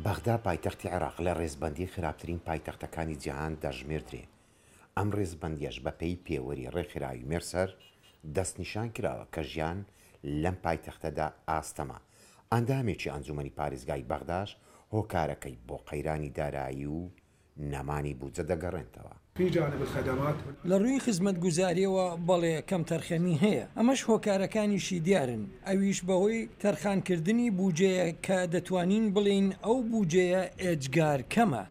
بەغدا پایتەختی عێراق لە ڕێزبەندیی خراپترین پایتەختەکانی جیهان دەژمێردرێ، ئەم ڕێزبەندییەش بەپێی پێوەری ڕێکخراوی مێرسەر دەستنیشان کراوە کە ژیان لەم پایتەختەدا ئاستەمە، ئەندامێکی ئەنجوومەنی پارێزگای بەغداش هۆکارەکەی بۆ قەیرانی دارایی و نەمانی بودجە دەگەڕێنتەوە. فی جانب الخدمات. لە ڕووی خزمەتگوزارییەوە بەڵێ کەمتەرخەمی هەیە، ئەمەش هۆکارەکانیشی دیارن، ئەویش بەهۆی تەرخانکردنی بودجەیە کە دەتوانین بڵێین ئەو بودجەیە ئێجگار کەمە.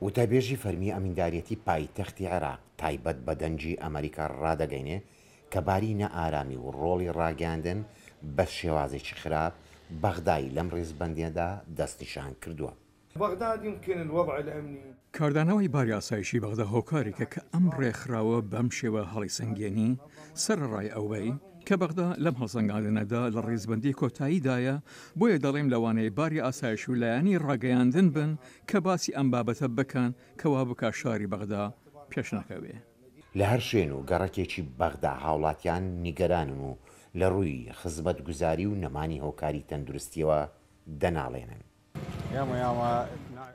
وتەبێژی فەرمی ئەمینداریەتی پایتەختی عێراق تایبەت بە دەنگی ئەمەریکا ڕادەگەینێ کە باری نائارامی و ڕۆڵی ڕاگەیاندن بە شێوازێکی خراپ بەغدای لەم ڕیزبەندیەدا دەستنیشان کردووە. بغداد يمكن الوضع الامني. کاردانەوەی باری ئاسایشی بەغدا هۆکارێکە کە ئەم ڕێکخراوە بەم شێوە هەڵیسەنگێنی، سەرەڕای ئەوەی کە بەغدا لەم هەڵسەنگاندنەدا لە ڕیزبەندی کۆتاییدایە، بۆیە دەڵێم لەوانەیە باری ئاسایش و لایەنی ڕاگەیاندن بن کە باسی ئەم بابەتە بکەن کە وا بکا شاری بەغدا پێشنەکەوێ. لە هەر شوێن و گەڕەکێکی بەغدا هاوڵاتیان نیگەرانن و لە ڕووی خزمەتگوزاری و نەمانی هۆکاری تەندروستییەوە دەناڵێنن.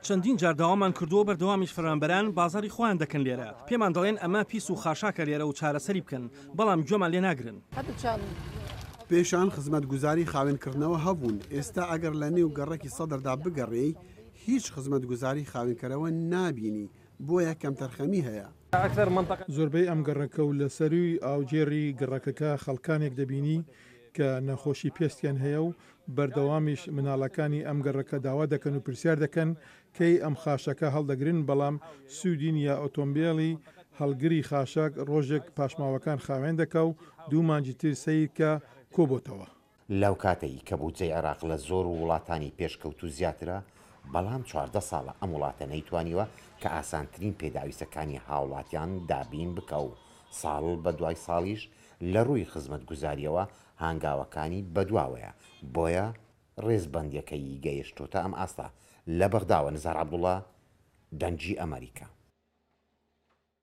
چەندین جار داوامان کردووە بەردەوامیش فەرمانبەران بازاڕی خۆیان دەکەن لێرە، پێمان دەڵێن ئەمە پیس و خاشاکە لێرە و چارەسەری بکەن، بەڵام گوێمان لێ ناگرن. پێشان خزمەتگوزاری خاوێنکڕدنەوە هەبوون، ئێستا ئەگەر لە نێو گەڕەکی سەدردا بگەڕێی هیچ خزمەتگوزاری خاوێنکەرەوە نابینی، بۆیە کەمتەرخەمی هەیە. زۆربەی ئەم گەڕەکە و لە سەرووی ئاوگێڕی گەڕەکەکە خەڵکانێک دەبینی کە نەخۆشی پێستیان هەیە و بەردەوامیش مناڵەکانی ئەم گەڕەکە داوا دەکەن و پرسیار دەکەن کەی ئەم خاشاکە هەڵدەگرن بەڵام سوودی نییە ئۆتۆمبێڵی هەڵگری خاشاک ڕۆژێک پاشماوەکان خاوێن دەکا و دوو مانگی تر سەیرکە کۆبۆتەوە. لەوکاتەی کە بودجەی عێراق لە زۆر وڵاتانی پێشکەوتوو زیاترە بەڵام چواردە ساڵە ئەم وڵاتە نەیتوانیوە کە ئاسانترین پێداویستەکانی هاوڵاتیان دابین بکا و ساڵ بەدوای ساڵیش لەڕووی خزمەتگوزاریەوە هانگاوەکانی بەدواوەیە، بۆیە ڕێزبەندیەکەیی گەیشتۆتە ئەم ئاستە، لە بەغداوە، نزار عەبدوڵا، دەنگی ئەمەریکا.